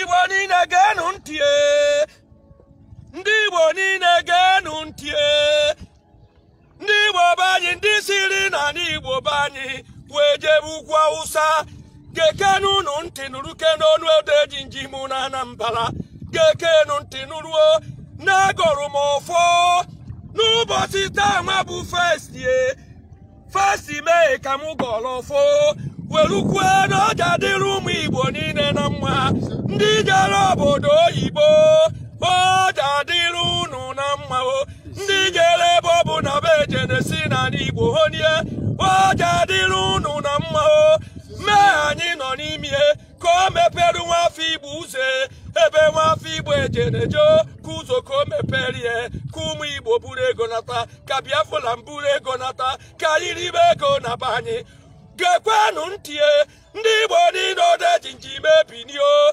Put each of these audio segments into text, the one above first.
igbo niile geenụ ntị ee. ndị igbo niile geenụ ntị ee. ndị igbo be anyị ndị siri n'anị igbo be anyị wee jebe ugwu awụsa gekenu unu ntị nụrụkene ọnụ odejimjim na anambra gekenu ntị nụrụ o na agọrụ m ọfọ n'ụbọchị taa nwa bụ first first may ka m gọrọ ọfọ werukwue na o je-adịrị ụmụ igbo niile na mma ndị jere obodo oyibo o je-adịrị unu na mma o ndị jere ebe ọbụna be eje na-esi n'anị igbo honie o je-adịrị unu na mma o mee anyị nọ n'ime ka o mepere nwa afọ igbo ụzọ ebe nwa afọ igbo eje na-eje ka ụzọ ka o mepere ya ka ụmụ igbo buru ego nata ka biafra m buru ego nata ka anyị ribe ego na be anyị gekwenụ ntị ndị igbo niile odejimjim ebinie o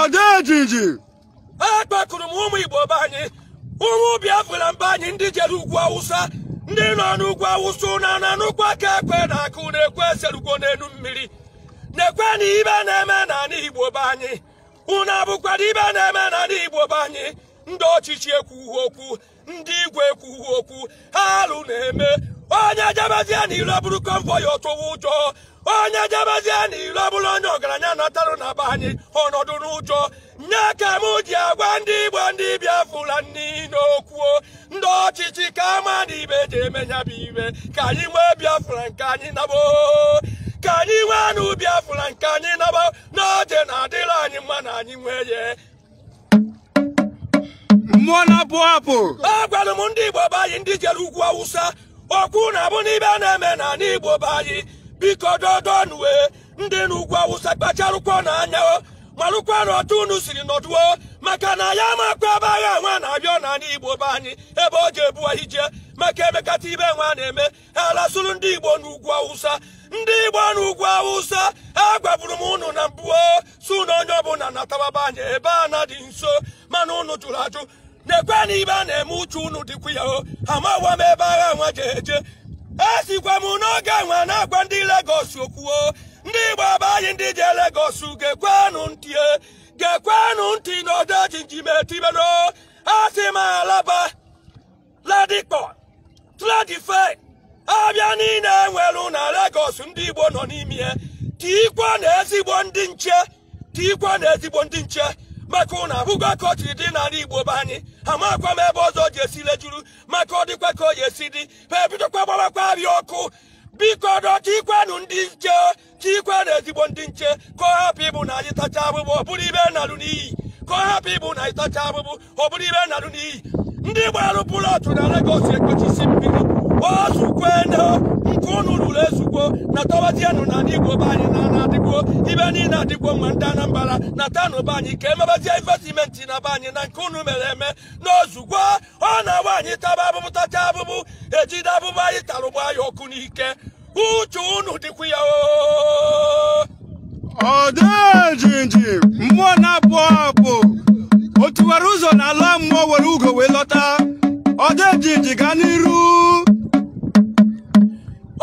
odejimjim akpọkuru m ụmụ igbo be anyị ụmụ biafra m be anyị ndị jere ugwu awụsa ndị nọ n'ugwu awụsa unu na-anụkwa ka ekwe na-akụ na ekwe eserugo n'enu mmiri neekwenụ ibe na-eme n'anị igbo be anyị unu abụkwara ibe na-eme n'anị igbo be anyị ndị ọchịchị ekwughị okwu ndị igwe ekwughị okwu ha alụ na-eme onye jebezie na ilo bụrụ convoy ọ tụwa ụjọ onye jebezie na ilo bụrụ onye ọgaranya natarụ na be anyị ọ nọdụ n'ụjọ nya ka m ji agwa ndị igbo ndị biafra niine okwu o ndị ọchịchị ka a ma na ibe eji eme nya bụ ibe ka anyị nwee biafra nke anyị naba ka anyị nweenụ biafra nke anyị naba na o je-adịrị anyị mma na anyị nwee ya mmụọ na-abụ abụ agwara m ndị igbo be anyị ndị jere ugwu awụsa ọ kwa unu abụna ibe a na-eme n'anị igbo be anyị biko dodonue ndị n'ugwu awụsa kpacharụkwanụ anya o marụkwanụ otu unu siri nọdụ o maka na ya makwa ebe agha nwa na-abịa n'anị igbo be anyị ebe o je-ebu anyị jee maka emekata ibe nwa na-eme alasụrụ ndị igbo n'ugwu awụsa ndị igbo n'ugwu awụsa agwaburu m ụnụ na mbụ sị ụnụ onye ọbụna natawa be anyị ebe na-adị nso mana ụnụ jụrụ ajụ neekwanụ ibe a na-eme uche ụnụ dịkwa ya o amawa m ebe agha nwa je eje esikwa m n'oge nwa na-agwa ndị Lagos okwu o ndị igbo be anyị ndị je Lagos gekwenụ ntị e, gekwenụ ntị na odejimjim etibero asị m alaba Ladipo Trade Fair avịa niile enwelu na Lagos ndị Igbo nọ n'ime ya tiikwanụ ezigbo ndị nche tiikwanụ ezigbo ndị nche maka unu avụgo ka o siri dị n'ala Igbo be anyị amakwa m ebe ọzọ je-esi lejuru maka ọ dịkwa ka o je-esi dị ha ebidokwa gbabakwa avịa ọkụ biko doo tiikwanụ ndị nche tiikwanụ ezigbo ndị nche ka ọ hapụ ịbụ na anyị tacha avụvụ ọ bụrụ ive nalụ n'iyi ka ọ hapụ ịbụ na anyị tacha avụvụ ọ bụrụ ive nalụ n'iyi ndị gbarụ plot na Lagos ekpochisi mmiri o zugwonụ nke unu rụrụ ezugwo natawazienụ na ndị Igbo be anyị na na adịgwo ive niile adịgwo mma ndị Anambra natanụ be anyị ka e mebazie investment na be anyị na nke unu mere eme na o zugwo ọ na-abụ anyị taba avụvụ tacha avụvụ e jide avụvụ anyị talụ gbaa ya ọkụ n'ike uche unu dịkwa ya Odejimjim mmụọ na-abụ abụ o tiwara ụzọ na ala mmụọ were ugo wee lọta Odejimjim gaa n'iru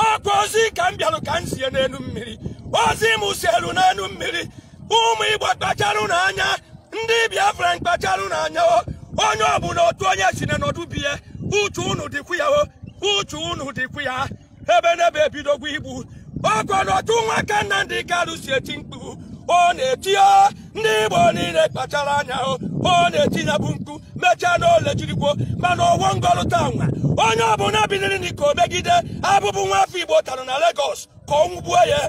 ọkwa ozi ka m bịarụ ka m zie n'elu mmiri ozi m zielu n'elu mmiri ụmụ Igbo kpacharụnụ anya ndị Biafra kpacharụnụ anya o onye ọbụla otu onye si na nọdụ be ye uche unu dịkwu ya o uche unu dịkwu ya ebe n'ebe ebidogwo ịgba ọkụ n'otu nwoke Nnamdi Kanu si eti mkpu ọ na-eti o ndị Igbo niile kpachara anya o ọ na-eti ya bụ mkpu mechaa n'ole jirigwo mana ọvọ m gọlụ taa nwa onye ọbụla biniri n'ike megide avụvụ nwa afọ Igbo tara na Lagos ka ọ nwụgbuo ya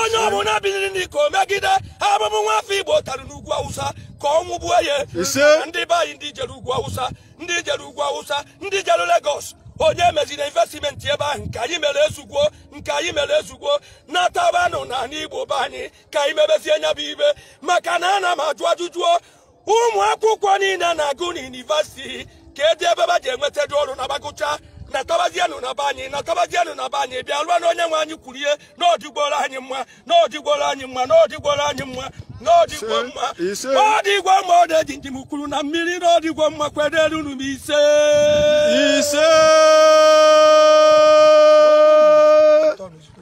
onye ọbụla biniri n'ike megide avụvụ nwa afọ Igbo tara n'ugwu Awụsa ka ọ nwụgbuo ya Ise. ndị be anyị ndị jere ugwu Awụsa ndị jere ugwu Awụsa ndị jere Lagos onye emezina investment ebe ahụ nke anyị mere ezugwo nke anyị mere ezugwo natabanụ na ala igbo be anyị ka anyị mebezie nya bụ ive maka na ana m ajụ ajụjụ ụmụ akwụkwọ niile na-agụ n'yunivesiti kedụ ebe va je-enwetadị ọrụ na va gụcha natabazienụ na be anyị natabazienụ na be anyị bịa rụọ na onye nwe anyị kwuru na ọ dịgworo anyị mma na ọ dịgworo anyị mma na ọ dịgworo anyị mma na ọ dịgwo mma Ise. ọ dịgwo mma Odejimjim kwuru na mmiri na ọ dịgwo mma kwederenụ m ise ise